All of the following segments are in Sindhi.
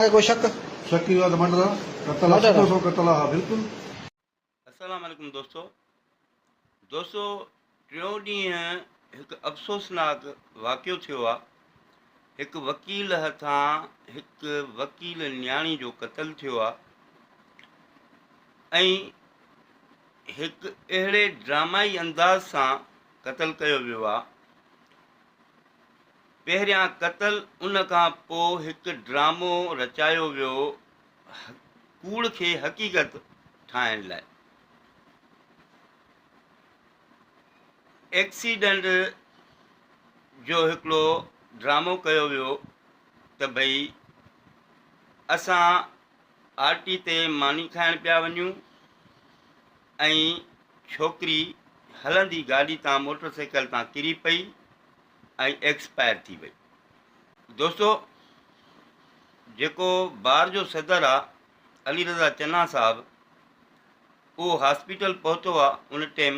کي ڪو شڪ؟ شڪ اهو آهي ته مڊرا قتل آهي سڌو سنئون قتل آهي بلڪل. السلام عليڪم دوستو دوستو ٽيون ڏينهن هڪ افسوسناڪ واقعو ٿيو آ هڪ وڪيل هٿان هڪ وڪيل نياڻي جو قتل ٿيو آ ۽ هڪ اهڙي ڊرامائي انداز سان قتل ڪيو ويو آ پهريان قتل ان کان پو هڪ ڊرامو رچايو ويو ڪوڙ کي حقيقت ٺاهڻ لاء. ايڪسيڊنٽ جو هڪڙو ڊرامو ڪيو ويو ته ڀئي اسان آر ٽي تي ماني کائڻ پيا وڃون ۽ ڇوڪري هلندي گاڏي تان موٽر سائيڪل تان ڪري پئي ۽ ايڪسپائر ٿي وئي. دوستو جيڪو بار جو صدر آ علي رضا چنا صاحب اهو هاسپيٽل پهتو آ ان ٽيم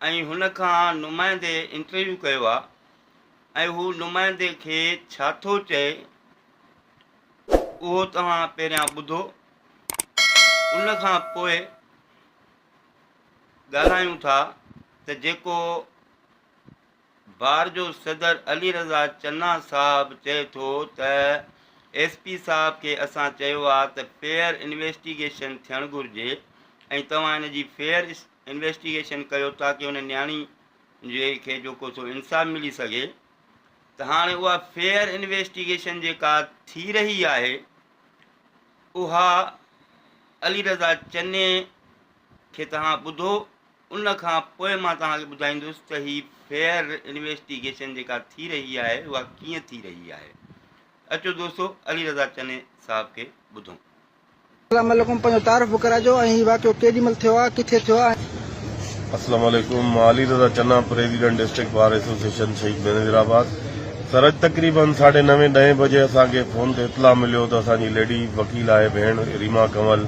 ۽ هن کان نمائندي انٽرويو ڪيو آ ۽ هو نمائندي کي ڇا ٿو چئي اهو توهان پهريان ٻڌو ان کان پوء ڳالهايون ٿا ته جيڪو بار جو صدر علي رضا چنا صاحب چئي ٿو ته ايس پي صاحب کي اسان چيو آهي ته فيئر انويسٽيگيشن ٿيڻ گهرجي ۽ توهان ان جي فيئر انويسٽيگيشن ڪيو تاڪه ان نياڻي جي کي جو ڪو سو انصاف ملي سگهي ته هاڻي اها فيئر انويسٽيگيشن جيڪا ٿي رهي آهي اها علي رضا چني کي توهان ٻڌو، ان کان پوء مان توهان کي ٻڌائيندس ته هي فيئر انويسٽيگيشن جيڪا ٿي رهي آهي اها ڪيئن ٿي رهي آهي. اچو دوستو علي رضا چني صاحب کي ٻڌون. السلام عليڪم پنهنجو تعارف به ڪرائجو ۽ هي واقعو ڪيڏي مهل ٿيو آهي ڪٿي ٿيو آهي ۽. السلام عليڪم مان Ali Raza Channa president district bar association Shaheed Benazir آباد. سرج تقريبن ساڍي نوين ڏهين بجي اسان کي فون تي اطلاع مليو ته اسان جي ليڊي وڪيل آهي ڀيڻ ريما ڪنول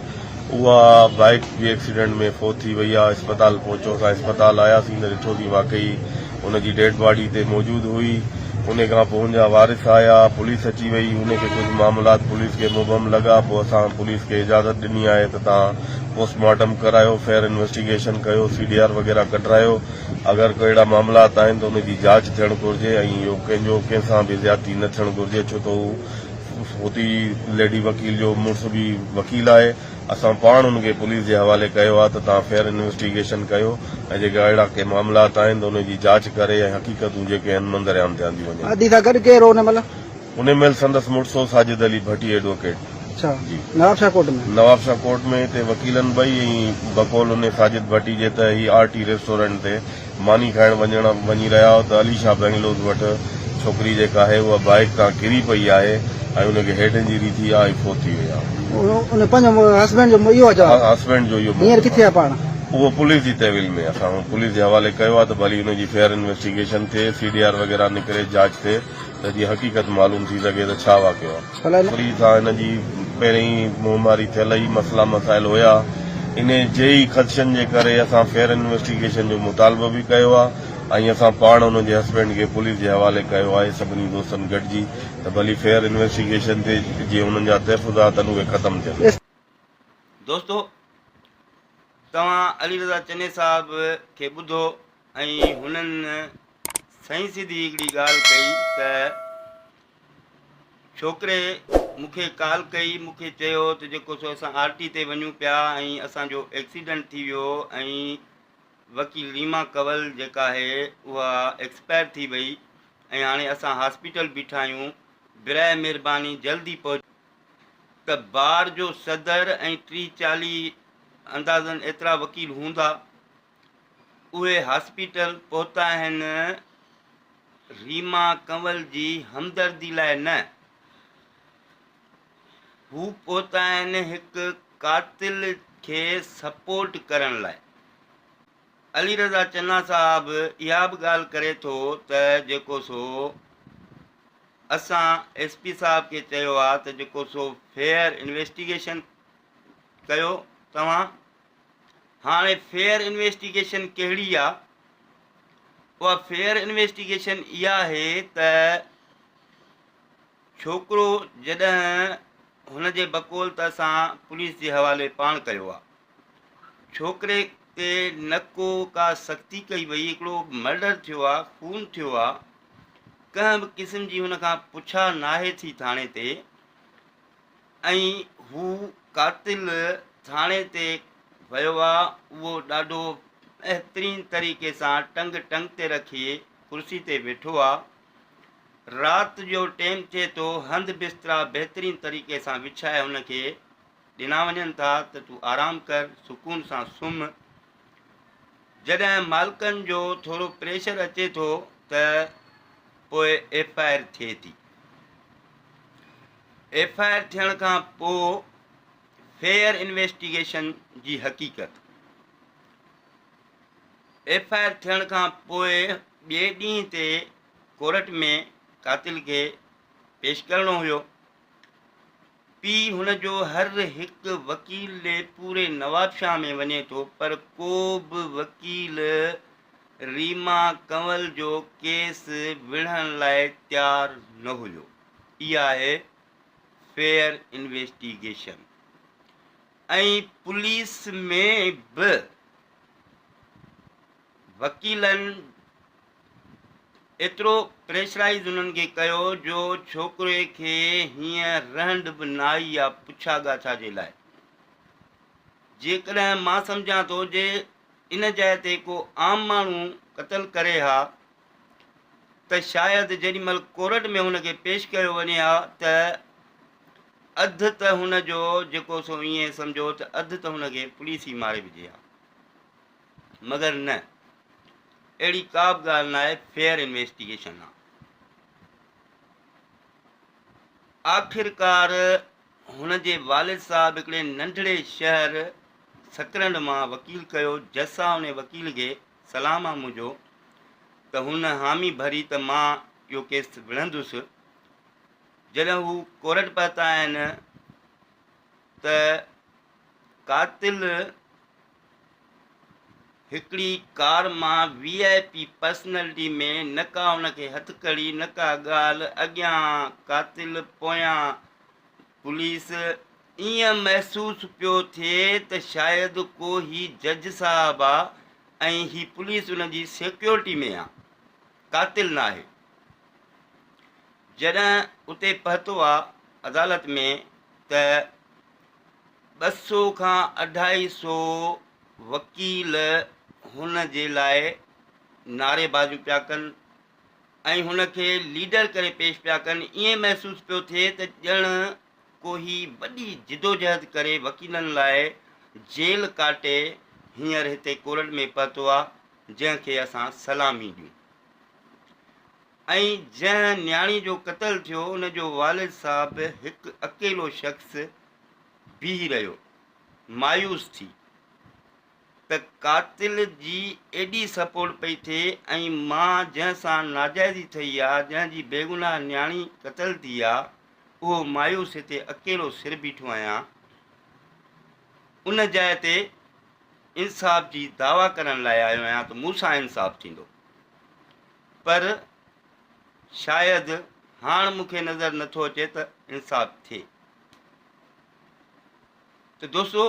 اها بائيڪ جي ايڪسيڊنٽ ۾ فوت ٿي وئي آهي اسپتال پهچو اسان اسپتال آياسين ته ڏٺو سين واقعي ان جي ڊيڊ باڊي اتي موجود هئي انهي کان پوء ان جا وارث آيا پوليس اچي وئي انهي کي ڪجهه معاملات پوليس کي مبهم لڳا پوء اسان پوليس کي اجازت ڏني آهي ته توهان پوسٽ مارٽم ڪرايو فير انويسٽيگيشن ڪيو سي ڊي آر وغيره ڪڍرايو اگر ڪو اهڙا معاملات آهن ته ان جي جاچ ٿيڻ گهرجي ۽ اهو ڪنهن جو ڪنهن سان به زيادتي نه ٿيڻ گهرجي ڇو ته هو هوتي ليڊي وڪيل جو مڙس به وڪيل آهي اسان پاڻ ان کي پوليس جي حوالي ڪيو آهي ته تهان فيئر انويسٽيگيشن ڪيو ۽ جيڪي اهڙا ڪي معاملات آهن ته ان جي جاچ ڪري ۽ حقيقتون جيڪي آهن منظر عام تي آنديون وڃن. انهي مهل سندس مڙس هو ساجد علي ڀٽي ايڊووڪيٽ. اڇا نواب شاهه ڪوٽ ۾. نواب شاهه ڪوٽ ۾ هتي وڪيلن ٻئي ۽ بقول انهي ساجد ڀٽي جي ته هي آر ٽي ريسٽورنٽ تي ماني کائڻ وڃڻ وڃي رهيا هئا ته علي شاهه بئنگلوز وٽ ڇوڪري جيڪا آهي اها بائيڪ تان ڪري پئي آهي ۽ ان کي هيڊ انجري ٿي آهي ۽ فوت ٿي وئي آهي. انهي پنهنجو هسبينڊ جو اهو آهي چوڻ. هسبينڊ جو اهو موقف آهي. هينئر ڪٿي آهي پاڻ؟ اهو پوليس جي تحويل ۾ اسان پوليس جي حوالي ڪيو آهي ته ڀلي ان جي فيئر انويسٽيگيشن ٿئي سي ڊي آر وغيره نڪري جاچ ٿئي. ته جي حقيقت معلوم ٿي سگهي ته ڇا واقعو آهي. پري کان هن جي پهرين ئي موماري ٿيل ئي مسئلا مسائل هيا. انهي جي ئي خدشن جي ڪري اسان فيئر انويسٽيگيشن جو مطالبو به ڪيو آهي ۽ اسان پاڻ ان جي هسبينڊ کي پوليس جي حوالي ڪيو آهي سڀني دوستن گڏجي ته ڀلي فيئر انويسٽيگيشن ٿئي جي انهن جا تحفظات آهن اهي ختم ٿين. دوستو توهان علي رضا چني صاحب کي ٻڌو ۽ هنن سائين سڌي هڪڙي ڳالهه ڪئي ته ڇوڪري مون کي ڪال ڪئي مون کي چيو ته جيڪو سو اسان آر ٽي تي وڃون پيا ۽ اسان جو ايڪسيڊنٽ ٿي ويو ۽ وڪيل ريما ڪنول جيڪا آهي اها ايڪسپائر ٿي وئي ۽ هاڻي اسان هاسپيٽل بيٺا آهيون براهه مهرباني جلدي پهچ ته بار جو صدر ۽ ٽيهه چاليهه اندازن ايترا وڪيل هوندا اهي هاسپيٽل پهتا آهن ريما ڪنول جي همدردي لاء نه، هو پهتا آهن هڪ قاتل کي سپورٽ ڪرڻ لاء. علي رضا چنا صاحب اها به ڳالهه ڪري ٿو ته جيڪو سو اسان ايس پي صاحب کي چيو آهي ته جيڪو سو فيئر انويسٽيگيشن ڪيو توهان هاڻي فيئر انويسٽيگيشن ڪهڙي آ؟ اها فيئر انويسٽيگيشن اها آهي ته ڇوڪرو جڏهن هن جي بقول ته اسان پوليس جي حوالي پاڻ ڪيو آ ڇوڪري تي نه ڪو ڪا سختي ڪئي وئي هڪڙو مرڊر ٿيو آ خون ٿيو آ ڪنهن به قسم جي هن کان پڇا ناهي ٿي ٿاڻي تي ۽ هو قاتل ٿاڻي تي ويو آ اهو ڏاڍو بهترين طريقي سان ٽنگ ٽنگ تي رکي ڪرسي تي ويٺو آ رات جو ٽيم ٿئي ٿو هنڌ بسترا بهترين طريقي سان وڇائي هن کي ڏنا وڃن ٿا ته تون آرام ڪر سڪون سان سم جڏهن مالڪن جو ٿورو پريشر اچي ٿو ته پوء ايف آء آر ٿئي ٿي ايف آء آر ٿيڻ کان پوء فيئر انويسٽيگيشن جي حقيقت، ايف آء آر ٿيڻ کان پوء ٻئي ڏينهن تي ڪورٽ ۾ قاتل کي پيش ڪرڻو هيو، پي هن جو هر هڪ وڪيل ڏي پوري نوابشاهه ۾ وڃي ٿو پر ڪو به وڪيل ريما ڪنول جو ڪيس وڙهڻ لاء تيار نه هيو. اها آهي فيئر انويسٽيگيشن ۽ پوليس ۾ به وڪيلن ايترو پريشرائيز انهن کي ڪيو جو ڇوڪري کي هيئن رهنڊ به نه آئي يا پڇا ڳاڇا جي لاء جيڪڏهن مان سمجهان ٿو جي ان جاء تي ڪو عام ماڻهو قتل ڪري ها ته شايد جيڏي مھل ڪورٽ ۾ ھن کي پيش ڪيو وڃي ھا ته اڌ ته ھن جو جيڪو سو ائين سمجھو ته اڌ ته ھن کي پوليس ئي ماري وجھي ھا. مگر نه اھڙي ڪا به ڳالھ ناھي فيئر انويسٽيگيشن آ. آخرڪار ھن جي والد صاحب ھڪڙي ننڍڙي شھر سڪرنڊ مان وڪيل ڪيو جسا انھي وڪيل کي سلام آ منهنجو ته هن حامي ڀري ته مان اهو ڪيس وڙهندس. جڏهن هو ڪورٽ پهتا آهن ته قاتل هڪڙي ڪار مان وي آء پي پرسنلٽي ۾ نه ڪا ان کي هٿڪڙي نه ڪا ڳالهه اڳيان قاتل پويان پوليس، ائين محسوس پيو ٿئي ته شايد ڪو هي جج صاحب آ ۽ هي پوليس ان جي سيڪيورٽي ۾ آ، قاتل ناهي. جڏهن اتي پهتو آ عدالت ۾ ته ٻه سو کان اڍائي سو وڪيل هن جي لاء نعري بازيون پيا ڪن، ۽ هن کي ليڊر ڪري پيش پيا ڪن، ائين محسوس پيو ٿئي ته ڄڻ ڪو هي وڏي جدوجهد ڪري وڪيلن لاء جيل ڪاٽي هينئر هتي ڪورٽ ۾ پهتو آ، جنهن کي اسان سلامي ڏيون. ۽ جنهن نياڻي جو قتل ٿيو، ان جو والد صاحب هڪ اڪيلو شخص بيهي رهيو، مايوس ٿي. ته قاتل جي ايڏي سپورٽ پئي ٿئي ۽ ماء جنهن سان ناجائزي ٿئي آ، جنهن جي بيگناهه نياڻي قتل ٿي آ، اهو مايوس هتي اڪيلو سر بيٺو آهيان. ان جاء تي انصاف جي دعويٰ ڪرڻ لاء آيو آهيان ته مون سان انصاف ٿيندو. پر شايد هاڻ مون کي نظر نه ٿو اچي ته انصاف ٿئي. ته دوستو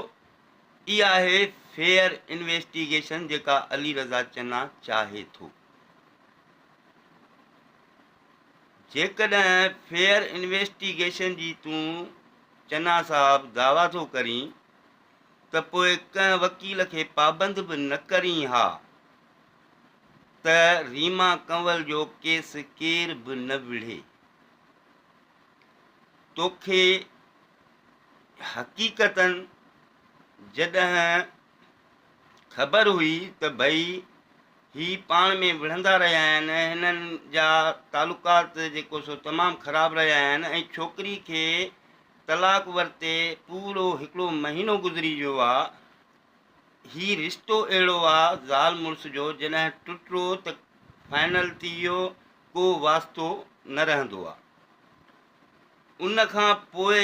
اها آهي فيئر انويسٽيگيشن جيڪا علي رضا چنا چاهي ٿو. جيڪڏهن فيئر انويسٽيگيشن جي تون چنا صاحب دعويٰ ٿو ڪرين ته پوء ڪنهن وڪيل کي پابند به نه ڪرين ها ته ريما ڪنول جو ڪيس ڪير به نه وڙهي. توکي حقيقتاً جڏهن خبر هئي ته ڀئي هي پاڻ ۾ وڙهندا رهيا آهن ۽ هنن جا تعلقات جيڪو سو تمام خراب رهيا آهن ۽ ڇوڪري کي طلاق ورتي پورو هڪڙو مهينو گذري ويو آ. هي رشتو اهڙو آ زال مڙس جو جڏهن ٽٽرو ته فائنل ٿي ويو ڪو واسطو نه رهندو آ. ان کان پوء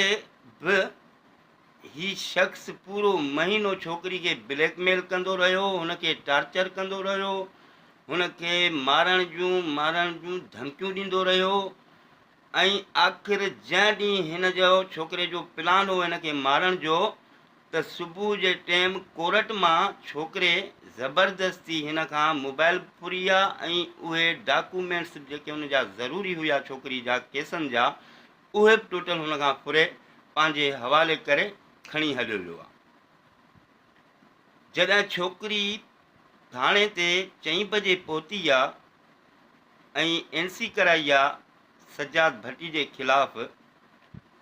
به هي شخص پورو مهينو ڇوڪري کي بليڪ ميل ڪندو رهيو هن کي ٽارچر ڪندو رهيو هن کي مارڻ جون مارڻ جون ڌمڪيون ڏيندو رهيو ۽ آخر جنهن ڏينهن هن جو ڇوڪري جو پلان هو هن کي مارڻ جو ته صبح جي ٽيم ڪورٽ مان ڇوڪري زبردستي هن کان موبائل ڦريا ۽ اهي ڊاڪومينٽس به جيڪي هن جا ضروري هيا ڇوڪري جا ڪيسن جا اهي به ٽوٽل هن کان ڦري پنهنجي حوالي ڪري کڻي هليو ويو آهي جڏهن ڇوڪري ٿاڻي تي چئين بجي پهتي آهي ۽ اين سي ڪرائي آهي سجاد ڀٽي جي خلاف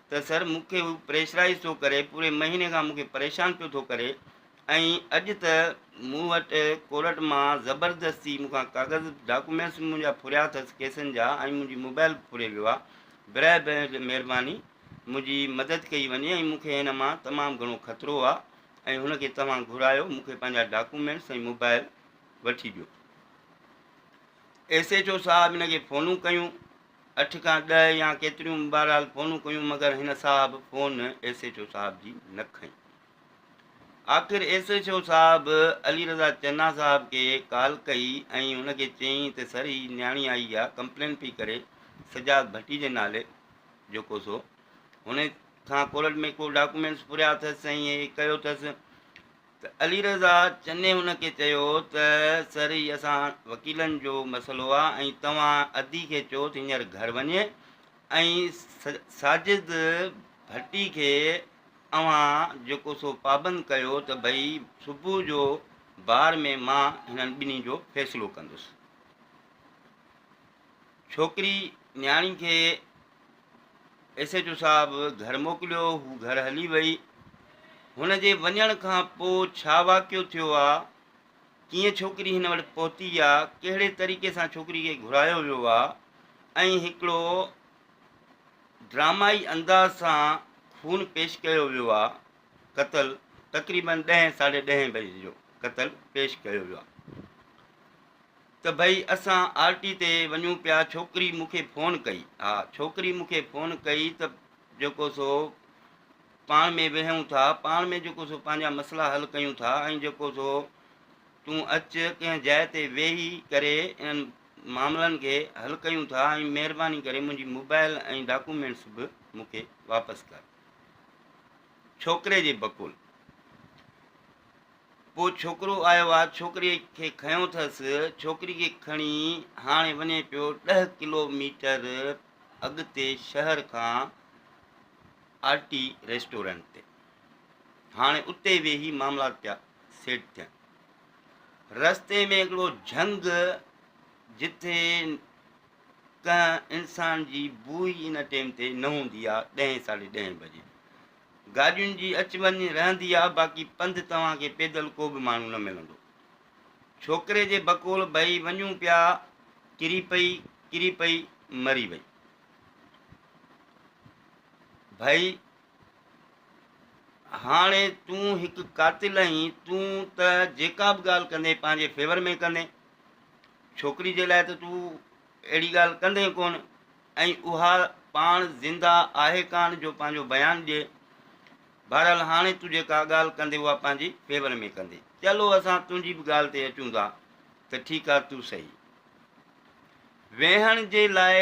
ته سر مون کي هو پريشرائز ٿو ڪري پوري مهيني کان مون کي پريشان پيو ٿو ڪري ۽ اڄ ته مون وٽ ڪورٽ مان زبردستي مون کان ڪاغذ ڊاڪومينٽس به منهنجا ڦريا اٿس ڪيسن جا ۽ منهنجي موبائل به ڦري ويو آهي برئه مهرباني منهنجي مدد ڪئي وڃي ۽ مون کي هن مان تمام گهڻو خطرو آهي ۽ هن کي توهان گهرايو مون کي پنهنجا ڊاڪومينٽس ۽ موبائل وٺي ڏيو. ايس ايڇ او صاحب هن کي فونون ڪيون اٺ کان ڏهه يا ڪيتريون به بهرحال فونون ڪيون مگر هن صاحب فون ايس ايڇ او صاحب جي نه کنئي آخر ايس ايڇ او صاحب علي رضا چنا صاحب کي ڪال ڪئي ۽ هن کي چيائين ته سر هي نياڻي آئي آ ڪمپلين پئي ڪري سجاد ڀٽي جي نالي جيڪو سو هن کان ڪورٽ ۾ ڪو ڊاڪومينٽس پوريا اٿس ۽ هي ڪيو اٿس ته علي رضا چني هن کي چيو ته سر هي اسان وڪيلن جو مسئلو آ ۽ توهان ادي کي چوس هينئر گهر وڃي ۽ ساجد ڀٽي کي اوهان جيڪو سو پابند ڪيو ته ڀئي صبح جو بار ۾ مان هنن ٻنهي جو فيصلو ڪندس. ڇوڪري نياڻي کي ايس ايڇ او صاحب گهر موڪليو، هو گهر هلي وئي. هن جي وڃڻ کان پوء ڇا واقعو ٿيو آ، ڪيئن ڇوڪري هن وٽ پهتي آ، ڪهڙي طريقي سان ڇوڪري کي گهرايو ويو آ ۽ هڪڙو ڊرامائي انداز سان خون پيش ڪيو ويو آ، قتل تقريبن ڏهين ساڍي ڏهين بجي جو قتل پيش ڪيو ويو آ. ته ڀئي اسان آر ٽي تي وڃون پيا ڇوڪري مون کي فون ڪئي ها ڇوڪري مون کي فون ڪئي ته جيڪو سو پاڻ ۾ ويهون ٿا پاڻ ۾ جيڪو سو پنهنجا مسئلا حل ڪيون ٿا ۽ جيڪو سو تون اچ ڪنهن جاء تي ويهي ڪري انهن معاملن کي حل ڪيون ٿا ۽ مهرباني ڪري منهنجي موبائل ۽ ڊاڪومينٽس به مون کي واپس ڪر ڇوڪري جي بقول پوء ڇوڪرو آيو آ، ڇوڪريء کي کنيو ٿس، ڇوڪري کي کڻي هاڻي وڃي پيو ڏهه ڪلو ميٽر اڳتي شهر کان آرٽي ريسٽورنٽ تي. هاڻي اتي ويهي معاملا پيا سيٽ ٿين. رستي ۾ هڪڙو جهنگ جتي ڪنهن انسان جي بوء ان ٽيم تي نه هوندي آ، ڏهين ساڍي ڏهين بجي. گاڏين جي اچ وڃ رهندي آ باقي پنڌ توهان کي پيدل ڪو به ماڻهو نه ملندو. ڇوڪري جي بقول ڀئي وڃون پيا ڪري پئي ڪري پئي مري وئي. ڀئي هاڻي تون هڪ قاتل آهين تون ته جيڪا به ڳالهه ڪندين پنهنجي فيور ۾ ڪندين ڇوڪري جي لاء ته تون اهڙي ڳالهه ڪندي ئي ڪونه ۽ اها پاڻ زنده آهي ڪانه جو پنهنجو بيان ڏئي. بهرحال هاڻي تون جيڪا ڳالهه ڪندي اها پنهنجي فيور ۾ ڪندي. چلو اسان تنهنجي به ڳالهه تي اچون ٿا ته ٺيڪ آهي تون صحيح. ويهڻ جي لاء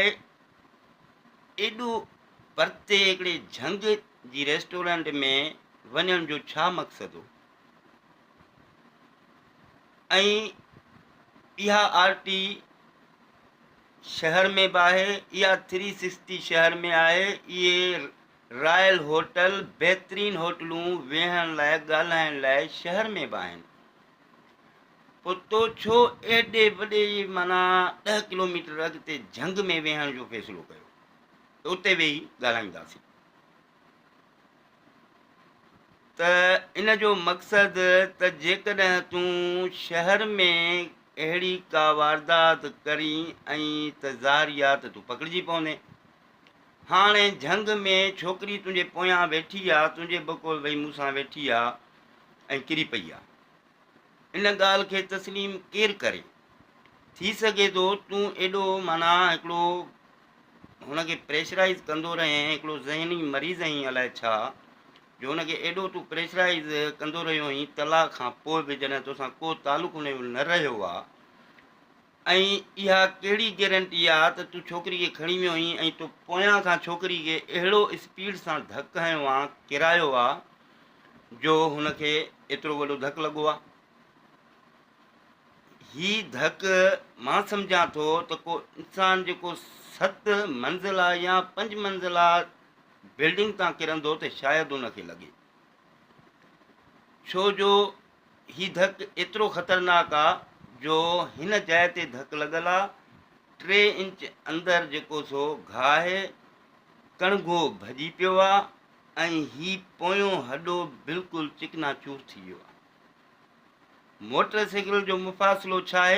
ايڏو پرتي هڪڙي جهنگ جي ريسٽورنٽ ۾ وڃڻ جو ڇا مقصد هو؟ ۽ اها آر ٽي شهر ۾ به آهي اها ٿري سڪسٽي شهر ۾ آهي اهي رائل هوٽل بهترين هوٽلون ويهڻ لاء ڳالهائڻ لاء شهر ۾ به آهن پوء تو ڇو ايڏي وڏي مانا ڏهه ڪلوميٽر اڳتي جهنگ ۾ ويهڻ جو فيصلو ڪيو ته اتي ويهي ڳالهائينداسين ته ان جو مقصد ته جيڪڏهن تون شهر ۾ اهڙي ڪا واردات ڪرين ۽ ته ظاهر يا ته تون پڪڙجي پوندين. هاڻي جهنگ ۾ ڇوڪري تنهنجي پويان ويٺي آ، تنهنجي بقول وئي مون سان ويٺي آ ۽ ڪري پئي آ. ان ڳالهه کي تسليم ڪير ڪري؟ ٿي سگهي ٿو تون ايڏو معنيٰ هڪڙو هن کي پريشرائيز ڪندو رهين، هڪڙو ذهني مريض هئين الائي ڇا، جو هن کي ايڏو تون پريشرائيز ڪندو رهيو هئين، طلاق کان پوء به جڏهن توسان ڪو تعلق هن جو نه رهيو آ، ۽ اها ڪهڙي گيرنٽي آ ته تون ڇوڪري کي کڻي ويو هئين ۽ تو پويان کان ڇوڪري کي اهڙو اسپيڊ سان ڌڪ هنيو آ، ڪرايو آ جو هن کي ايترو وڏو ڌڪ لڳو آ. هي ڌڪ مان سمجهان ٿو ته ڪو انسان جيڪو ست منزلا يا پنج منزلا بلڊنگ تان ڪرندو ته شايد ان کي لڳي. ڇو جو هي ڌڪ ايترو خطرناڪ آ جو هن جاء تي ڌڪ لڳل آ ٽي انچ اندر جيڪو سو گاهه ڪڻگهو ڀڄي پيو آ ۽ هي پويون هڏو بلڪل چڪنا چور ٿي ويو آ موٽر سيڪل جو مفاصلو ڇا آهي؟